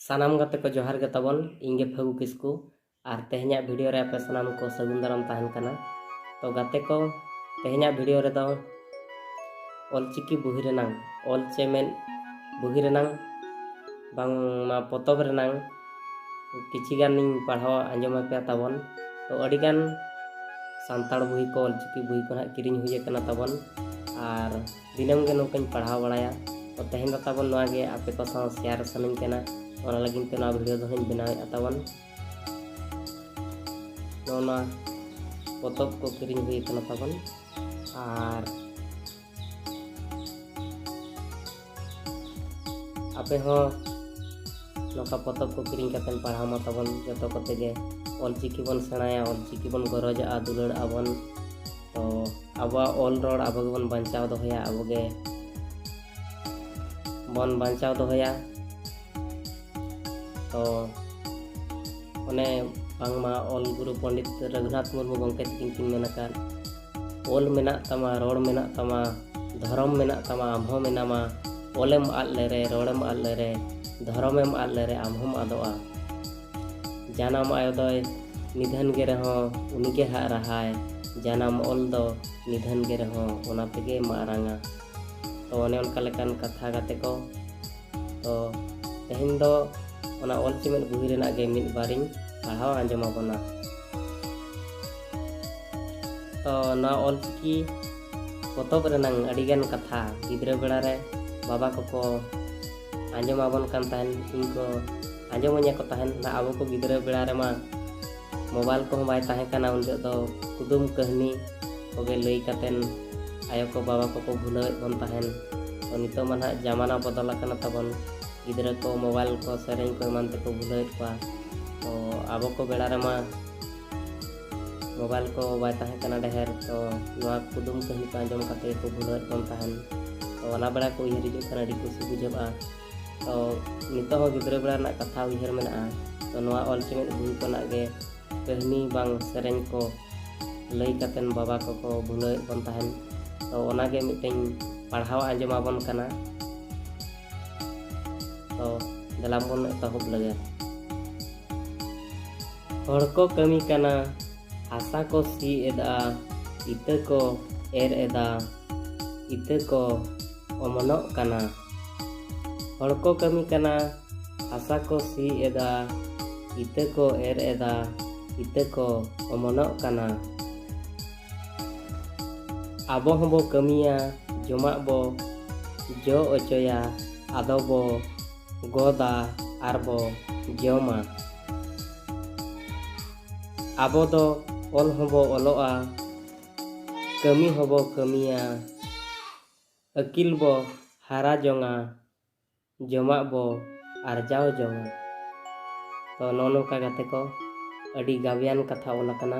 ᱥᱟᱱᱟᱢ ᱜᱟᱛᱮ ᱠᱚ ᱡᱚᱦᱟᱨ ᱜᱮ ᱛᱟᱵᱚᱱ ᱤᱧ ᱜᱮ ᱯᱷᱟᱹᱜᱩ ᱠᱤᱥᱠᱩ ᱟᱨ ᱛᱮᱦᱮᱧᱟᱜ ᱵᱷᱤᱰᱤᱭᱳ ᱨᱮ ᱟᱯᱮ ᱥᱟᱱᱟᱢ ᱠᱚ ᱥᱟᱹᱜᱩᱱ ᱫᱟᱨᱟᱢ ᱛᱟᱦᱮᱱ ᱠᱟᱱᱟ ᱛᱚ ᱜᱟᱛᱮ ᱠᱚ ᱛᱮᱦᱮᱧᱟᱜ ᱵᱷᱤᱰᱤᱭᱳ ᱨᱮᱫᱚ ᱚᱞᱪᱤᱠᱤ ᱵᱩᱦᱤ ᱨᱮᱱᱟᱝ ᱚᱞ ᱪᱮᱢᱮᱫ ᱵᱩᱦᱤ ᱨᱮᱱᱟᱝ ᱵᱟᱝᱢᱟ ᱯᱚᱛᱚᱵ ᱨᱮᱱᱟᱝ ᱠᱤᱪᱷᱤ ᱜᱟᱱᱤᱧ ᱯᱟᱲᱦᱟᱣ ᱟᱸᱡᱚᱢ ᱟᱯᱮᱭᱟ ᱛᱟᱵᱚᱱ ᱛᱚ ᱟᱹᱰᱤ ᱜᱟᱱ ᱥᱟᱱᱛᱟᱲ ᱵᱩᱦᱤ ᱠᱚ ᱚᱞᱪᱤᱠᱤ ᱵᱩᱦᱤ ᱠᱚ ᱱᱟᱦᱟᱜ ᱠᱤᱨᱤᱧ ᱦᱩᱭ ᱟᱠᱟᱱᱟ ᱛᱟᱵᱚᱱ ᱟᱨ ᱫᱤᱱᱟᱹᱢ ᱜᱮ ᱱᱚᱝᱠᱟᱧ ᱯᱟᱲᱦᱟᱣ ᱵᱟᱲᱟᱭᱟ ᱛᱚ ᱛᱮᱦᱮᱧ ᱫᱚ ᱛᱟᱵᱚᱱ ᱱᱚᱣᱟ ᱜᱮ ᱟᱯᱮ ᱠᱚ ᱥᱟᱶ ᱥᱮᱭᱟᱨ ᱥᱟᱱᱟᱧ ᱠᱟᱱᱟ ᱚᱱᱟ ᱞᱟᱹᱜᱤᱫ ᱛᱮ ᱱᱚᱣᱟ ᱵᱷᱤᱰᱤᱭᱳ ᱫᱚ ᱦᱟᱸᱜ ᱵᱮᱱᱟᱣᱮᱫᱼᱟ ᱛᱟᱵᱚᱱ ᱱᱚᱜᱼᱚ ᱱᱚᱣᱟ ᱯᱚᱛᱚᱵ ᱠᱚ ᱠᱤᱨᱤᱧ ᱦᱩᱭ ᱠᱟᱱᱟ ᱛᱟᱵᱚᱱ ᱟᱨ ᱟᱯᱮ ᱦᱚᱸ ᱱᱚᱝᱠᱟ ᱯᱚᱛᱚᱵ ᱠᱚ ᱠᱤᱨᱤᱧ ᱠᱟᱛᱮ ᱯᱟᱲᱦᱟᱣ ᱢᱟ ᱛᱟᱵᱚᱱ ᱡᱚᱛᱚ ᱠᱚᱛᱮ ᱜᱮ ᱚᱞᱪᱤᱠᱤ ᱵᱚᱱ ᱥᱮᱬᱟᱭᱟ ᱚᱞᱪᱤᱠᱤ ᱵᱚᱱ ᱜᱚᱨᱚᱡᱟᱜᱼᱟ ᱫᱩᱞᱟᱹᱲᱟᱜᱼᱟ ᱵᱚᱱ ᱛᱚ ᱟᱵᱚᱣᱟᱜ ᱚᱞ ᱨᱚᱲ ᱟᱵᱚ ᱜᱮᱵᱚᱱ ᱵᱟᱧᱪᱟᱣ ᱫᱚᱦᱚᱭᱟ ᱟᱵᱚ ᱜᱮ ᱵᱚᱱ ᱵᱟᱧᱪᱟᱣ ᱫᱚᱦᱚᱭᱟ ᱛᱚ ᱚᱱᱮ ᱵᱟᱝᱢᱟ ᱚᱞ ᱜᱩᱨᱩ ᱯᱚᱸᱰᱤᱛ ᱨᱚᱜᱷᱩᱱᱟᱛᱷ ᱢᱩᱨᱢᱩ ᱜᱚᱢᱠᱮ ᱛᱟᱹᱠᱤᱱ ᱠᱤᱱ ᱢᱮᱱ ᱟᱠᱟᱫ ᱚᱞ ᱢᱮᱱᱟᱜ ᱛᱟᱢᱟ ᱨᱚᱲ ᱢᱮᱱᱟᱜ ᱛᱟᱢᱟ ᱫᱷᱚᱨᱚᱢ ᱢᱮᱱᱟᱜ ᱛᱟᱢᱟ ᱟᱢ ᱦᱚᱸ ᱢᱮᱱᱟᱢᱟ ᱚᱞᱮᱢ ᱟᱫ ᱞᱮᱨᱮ ᱨᱚᱲᱮᱢ ᱟᱫ ᱞᱮᱨᱮ ᱫᱷᱚᱨᱚᱢᱮᱢ ᱟᱫ ᱞᱮᱨᱮ ᱟᱢ ᱦᱚᱸᱢ ᱟᱫᱚᱜᱼᱟ ᱡᱟᱱᱟᱢ ᱟᱭᱳ ᱫᱚᱭ ᱱᱤᱫᱷᱟᱹᱱ ᱜᱮ ᱨᱮᱦᱚᱸ ᱩᱱᱤ ᱜᱮ ᱦᱟᱜ ᱨᱟᱦᱟᱭ ᱡᱟᱱᱟᱢ ᱚᱞ ᱫᱚ ᱱᱤᱫᱷᱟᱹᱱ ᱜᱮ ᱨᱮᱦᱚᱸ ᱚᱱᱟ ᱛᱮᱜᱮ ᱢᱟᱨᱟᱝᱟ ᱛᱚ ᱚᱱᱮ ᱚᱱᱠᱟ ᱞᱮᱠᱟᱱ ᱠᱟᱛᱷᱟ ᱜᱟᱛᱮ ᱠᱚ ᱛᱚ ᱛᱮᱦᱮᱧ ᱫᱚ ᱚᱱᱟ ᱚᱞ ᱪᱮᱢᱮᱫ ᱵᱩᱦᱤ ᱨᱮᱱᱟᱜ ᱜᱮ ᱢᱤᱫ ᱵᱟᱨᱤᱧ ᱯᱟᱲᱦᱟᱣ ᱟᱸᱡᱚᱢ ᱟᱵᱚᱱᱟ ᱛᱚ ᱱᱚᱣᱟ ᱚᱞ ᱪᱤᱠᱤ ᱯᱚᱛᱚᱵ ᱨᱮᱱᱟᱝ ᱟᱹᱰᱤᱜᱟᱱ ᱠᱟᱛᱷᱟ ᱜᱤᱫᱽᱨᱟᱹ ᱵᱮᱲᱟ ᱨᱮ ᱵᱟᱵᱟ ᱠᱚᱠᱚ ᱟᱸᱡᱚᱢ ᱟᱵᱚᱱ ᱠᱟᱱ ᱛᱟᱦᱮᱱ ᱤᱧ ᱠᱚ ᱟᱸᱡᱚᱢᱟᱹᱧᱟ ᱠᱚ ᱛᱟᱦᱮᱱ ᱟᱵᱚ ᱠᱚ ᱜᱤᱫᱽᱨᱟᱹ ᱵᱮᱲᱟ ᱨᱮᱢᱟ ᱢᱳᱵᱟᱭᱤᱞ ᱠᱚᱦᱚᱸ ᱵᱟᱭ ᱛᱟᱦᱮᱸ ᱠᱟᱱᱟ ᱩᱱ ᱡᱚᱦᱚᱜ ᱫᱚ ᱠᱩᱫᱩᱢ ᱠᱟᱹᱦᱱᱤ ᱠᱚᱜᱮ ᱞᱟᱹᱭ ᱠᱟᱛᱮᱱ ᱟᱭᱳ ᱠᱚ ᱵᱟᱵᱟ ᱠᱚᱠᱚ ᱵᱷᱩᱞᱟᱹᱣᱮᱫ ᱵᱚᱱ ᱛᱟᱦᱮᱱ ᱛᱚ ᱱᱤᱛᱚᱜ ᱢᱟ ᱱᱟᱦᱟᱜ ᱡᱟᱢᱟᱱᱟ ᱵᱚᱫᱚᱞ ᱟᱠᱟᱱᱟ ᱛᱟᱵᱚᱱ ᱜᱤᱫᱽᱨᱟᱹ ᱠᱚ ᱢᱳᱵᱟᱭᱤᱞ ᱠᱚ ᱥᱮᱨᱮᱧ ᱠᱚ ᱮᱢᱟᱱ ᱛᱮᱠᱚ ᱵᱷᱩᱞᱟᱹᱣᱮᱫ ᱠᱚᱣᱟ ᱛᱚ ᱟᱵᱚ ᱠᱚ ᱵᱮᱲᱟ ᱨᱮᱢᱟ ᱢᱳᱵᱟᱭᱤᱞ ᱠᱚ ᱵᱟᱭ ᱛᱟᱦᱮᱸ ᱠᱟᱱᱟ ᱰᱷᱮᱨ ᱛᱚ ᱱᱚᱣᱟ ᱠᱩᱫᱩᱢ ᱠᱟᱹᱦᱱᱤ ᱠᱚ ᱟᱸᱡᱚᱢ ᱠᱟᱛᱮ ᱠᱚ ᱵᱷᱩᱞᱟᱹᱣᱮᱫ ᱵᱚᱱ ᱛᱟᱦᱮᱱ ᱛᱚ ᱚᱱᱟ ᱵᱮᱲᱟ ᱠᱚ ᱩᱭᱦᱟᱹᱨ ᱦᱤᱡᱩᱜ ᱠᱟᱱᱟ ᱟᱹᱰᱤ ᱠᱩᱥᱤ ᱵᱩᱡᱷᱟᱹᱜᱼᱟ ᱛᱚ ᱱᱤᱛᱚᱜ ᱦᱚᱸ ᱜᱤᱫᱽᱨᱟᱹ ᱵᱮᱲᱟ ᱨᱮᱱᱟᱜ ᱠᱟᱛᱷᱟ ᱩᱭᱦᱟᱹᱨ ᱢᱮᱱᱟᱜᱼᱟ ᱛᱚ ᱱᱚᱣᱟ ᱚᱞ ᱪᱮᱢᱮᱫ ᱵᱩᱦᱤ ᱠᱷᱚᱱᱟᱜ ᱜᱮ ᱠᱟᱹᱦᱱᱤ ᱵᱟᱝ ᱥᱮᱨᱮᱧ ᱠᱚ ᱞᱟᱹᱭ ᱠᱟᱛᱮᱱ ᱵᱟᱵᱟ ᱠᱚᱠᱚ ᱵᱷᱩᱞᱟᱹᱣᱮᱫ ᱵᱚᱱ ᱛᱟᱦᱮᱱ ᱛᱚ ᱚᱱᱟᱜᱮ ᱢᱤᱫᱴᱮᱱ ᱯᱟᱲᱦᱟᱣ ᱟᱸᱡᱚᱢᱟᱵᱚᱱ ᱠᱟᱱᱟ ᱛᱚ ᱫᱮᱞᱟ ᱵᱚᱱ ᱮᱛᱚᱦᱚᱵ ᱞᱮᱜᱮ ᱦᱚᱲ ᱠᱚ ᱠᱟᱹᱢᱤ ᱠᱟᱱᱟ ᱦᱟᱥᱟ ᱠᱚ ᱥᱤ ᱮᱫᱟ ᱤᱛᱟᱹ ᱠᱚ ᱮᱨ ᱮᱫᱟ ᱤᱛᱟᱹ ᱠᱚ ᱚᱢᱚᱱᱚᱜ ᱠᱟᱱᱟ ᱦᱚᱲ ᱠᱚ ᱠᱟᱹᱢᱤ ᱠᱟᱱᱟ ᱦᱟᱥᱟ ᱠᱚ ᱥᱤ ᱮᱫᱟ ᱤᱛᱟᱹ ᱠᱚ ᱮᱨ ᱮᱫᱟ ᱤᱛᱟᱹ ᱠᱚ ᱚᱢᱚᱱᱚᱜ ᱠᱟᱱᱟ ᱟᱵᱚ ᱦᱚᱸ ᱵᱚ ᱠᱟᱹᱢᱤᱭᱟ ᱡᱚᱢᱟᱜ ᱵᱚ ᱡᱚ ᱚᱪᱚᱭᱟ ᱟᱫᱚ ᱵᱚ ᱜᱚᱫᱟ ᱟᱨ ᱵᱚ ᱡᱚᱢᱟ᱾ ᱟᱵᱚ ᱫᱚ ᱚᱞ ᱦᱚᱸ ᱵᱚ ᱚᱞᱚᱜᱼᱟ ᱠᱟᱹᱢᱤ ᱦᱚᱸ ᱵᱚ ᱠᱟᱹᱢᱤᱭᱟ ᱟᱹᱠᱤᱞ ᱵᱚ ᱦᱟᱨᱟ ᱡᱚᱝᱟ᱾ ᱡᱚᱢᱟᱜ ᱵᱚ ᱟᱨᱡᱟᱣ ᱡᱚᱝᱟ ᱛᱚ ᱱᱚᱜᱼᱚ ᱱᱚᱝᱠᱟ ᱜᱟᱛᱮ ᱠᱚ ᱟᱹᱰᱤ ᱜᱟᱵᱮᱭᱟᱱ ᱠᱟᱛᱷᱟ ᱚᱞ ᱟᱠᱟᱱᱟ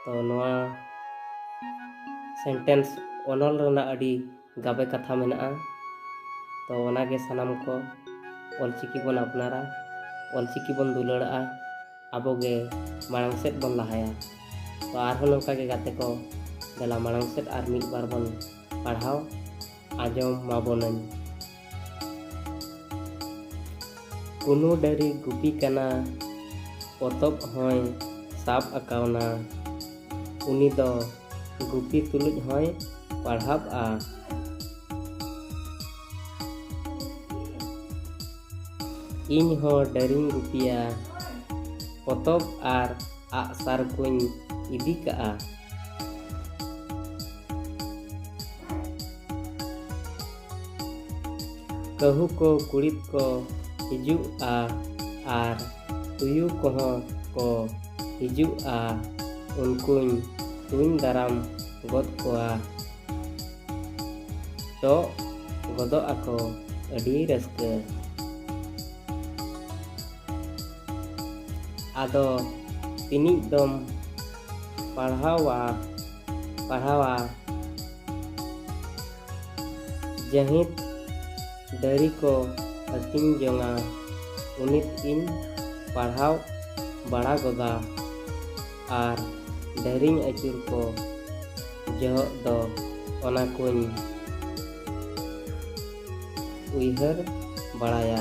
ᱛᱚ ᱱᱚᱣᱟ ᱥᱮᱱᱴᱮᱱᱥ ᱚᱱᱚᱞ ᱨᱮᱱᱟᱜ ᱟᱹᱰᱤ ᱜᱟᱵᱮ ᱠᱟᱛᱷᱟ ᱢᱮᱱᱟᱜᱼᱟ ᱛᱚ ᱚᱱᱟᱜᱮ ᱥᱟᱱᱟᱢ ᱠᱚ ᱚᱞᱪᱤᱠᱤ ᱵᱚᱱ ᱟᱯᱱᱟᱨᱟ ᱚᱞᱪᱤᱠᱤ ᱵᱚᱱ ᱫᱩᱞᱟᱹᱲᱟᱜᱼᱟ ᱟᱵᱚᱜᱮ ᱢᱟᱲᱟᱝ ᱥᱮᱫ ᱵᱚᱱ ᱞᱟᱦᱟᱭᱟ ᱛᱚ ᱟᱨᱦᱚᱸ ᱱᱚᱝᱠᱟᱜᱮ ᱜᱟᱛᱮ ᱠᱚ ᱫᱮᱞᱟ ᱢᱟᱲᱟᱝ ᱥᱮᱫ ᱟᱨ ᱢᱤᱫ ᱵᱟᱨ ᱵᱚᱱ ᱯᱟᱲᱦᱟᱣ ᱟᱸᱡᱚᱢ ᱢᱟᱵᱚᱱᱟᱹᱧ᱾ ᱠᱩᱱᱩ ᱰᱟᱹᱨᱤ ᱜᱩᱯᱤ ᱠᱟᱱᱟ ᱯᱚᱛᱚᱵ ᱦᱚᱸᱭ ᱥᱟᱵ ᱟᱠᱟᱣᱱᱟ᱾ ᱩᱱᱤ ᱫᱚ ᱜᱩᱯᱤ ᱛᱩᱞᱩᱡ ᱦᱚᱸᱭ ᱯᱟᱲᱦᱟᱵᱼᱟ᱾ ᱤᱧ ᱦᱚᱸ ᱰᱟᱹᱨᱤᱧ ᱜᱩᱯᱤᱭᱟ᱾ ᱯᱚᱛᱚᱵ ᱟᱨ ᱟᱜᱼᱥᱟᱨ ᱠᱚᱧ ᱤᱫᱤ ᱠᱟᱜᱼᱟ ᱠᱟᱹᱦᱩ ᱠᱚ ᱠᱩᱲᱤᱫ ᱠᱚ ᱦᱤᱡᱩᱜᱼᱟ ᱟᱨ ᱛᱩᱭᱩ ᱠᱚᱦᱚᱸ ᱠᱚ ᱦᱤᱡᱩᱜᱼᱟ ᱩᱱᱠᱩᱧ ᱛᱩᱧ ᱫᱟᱨᱟᱢ ᱜᱚᱫ ᱠᱚᱣᱟ ᱴᱚᱜ ᱜᱚᱫᱚᱜ ᱟᱠᱚ ᱟᱹᱰᱤ ᱨᱟᱹᱥᱠᱟᱹ ᱟᱫᱚ ᱛᱤᱱᱤᱡ ᱫᱚᱢ ᱯᱟᱲᱦᱟᱣᱟ ᱯᱟᱲᱦᱟᱣᱟ ᱡᱟᱹᱦᱤᱸᱛ ᱫᱟᱹᱨᱤ ᱠᱚ ᱦᱟᱹᱴᱤᱧ ᱡᱚᱝᱟ ᱩᱱᱤᱛ ᱤᱧ ᱯᱟᱲᱦᱟᱣ ᱵᱟᱲᱟ ᱜᱚᱫᱟ ᱟᱨ ᱰᱟᱹᱨᱤᱧ ᱟᱹᱪᱩᱨ ᱠᱚ ᱡᱚᱦᱚᱜ ᱫᱚ ᱚᱱᱟ ᱠᱚᱧ ᱩᱭᱦᱟᱹᱨ ᱵᱟᱲᱟᱭᱟ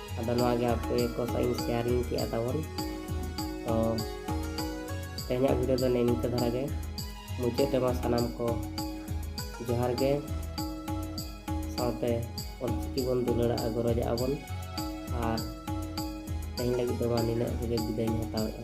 ᱟᱫᱚ ᱱᱚᱣᱟ ᱜᱮ ᱟᱯᱮ ᱠᱚ ᱥᱟᱶ ᱤᱧ ᱥᱮᱭᱟᱨᱤᱧ ᱠᱮᱜᱼᱟ ᱛᱟᱵᱚᱱ ᱛᱚ ᱛᱮᱦᱮᱧᱟᱜ ᱵᱷᱤᱰᱤᱭᱳ ᱫᱚ ᱱᱮ ᱱᱤᱝᱠᱟᱹ ᱫᱷᱟᱨᱟ ᱜᱮ ᱢᱩᱪᱟᱹᱫ ᱨᱮᱢᱟ ᱥᱟᱱᱟᱢ ᱠᱚ ᱡᱚᱦᱟᱨ ᱜᱮ ᱥᱟᱶᱛᱮ ᱚᱞᱪᱤᱠᱤ ᱵᱚᱱ ᱫᱩᱞᱟᱹᱲᱟᱜᱼᱟ ᱜᱚᱨᱚᱡᱟᱜᱼᱟ ᱵᱚᱱ ᱟᱨ ᱛᱮᱦᱮᱧ ᱞᱟᱹᱜᱤᱫ ᱫᱚ ᱢᱟ ᱱᱤᱱᱟᱹᱜ ᱨᱮᱜᱮ ᱵᱤᱫᱟᱹᱭᱤᱧ ᱦᱟᱛᱟᱣᱮᱫᱼᱟ